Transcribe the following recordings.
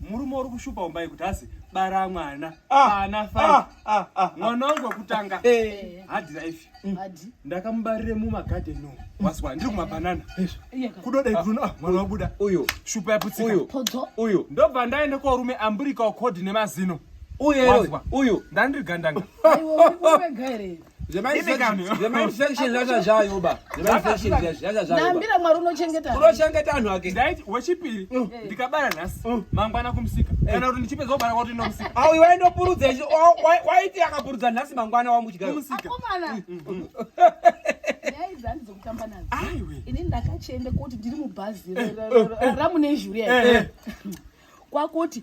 Murume uri kushupa umbai kuti asi bara mwana ah, ana ah, fai ah, ah, mwana wangu wekutanga eh. hadi life mm. ndakamubarire mumagarden no waswa ndiri kumabanana kudodai kuti ah, mwana wabuda uyo shupa yaputsika uyo ndobva ndaende korume amburika ukhodi nemazino uyo uyo ndandiri gandanga zvemainfectionzvazvazvayobaambira mwari unochengeta unochengeta anhu ake ndaiti wechipiri mm. eh. ndikabara nhasi mm. mangwana kumusika eh. kana kuti ndichipedza kubara kwati nomusika au iwe ndopurudza waiti akapurudza nhasi mangwana wamuchikamusika mm, ini ndakachienda kuti ndiri mubhazi eh, ramunezhuri kwakuti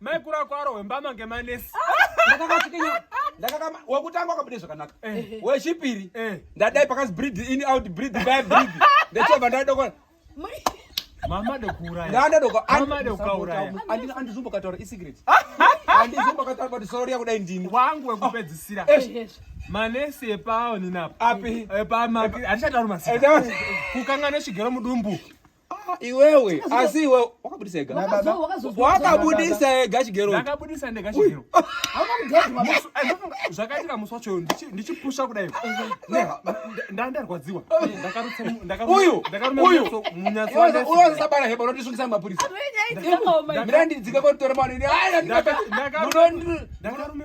maikuru ako arohwe mbama ngemanesi wakutanga wakabude zvakanaka eh. wechipiri eh. ndadai pakanzi breed in out breed by breed ndechobva ndadokona mama dokuuraya ndanda dokauraya dokauraya andina andizumbo kataura i secret andizumbo kataura kuti soro riya kudai ndini wangu wekupedzisira eh, manesi epawo ninapo api epa maki andishatauri masika kukanga neshigero mudumbu Ah, iwewe asi iwe wakabudisa ega wakabudisa ega chigerondakabudisa ndega chigero zvakaitika musi wacho ndichipusha kudai ndandarwadziwa uyuuyuuyuusabara heba unondisungisa mapurisa mirandidzika kotora maonini aya ndakarume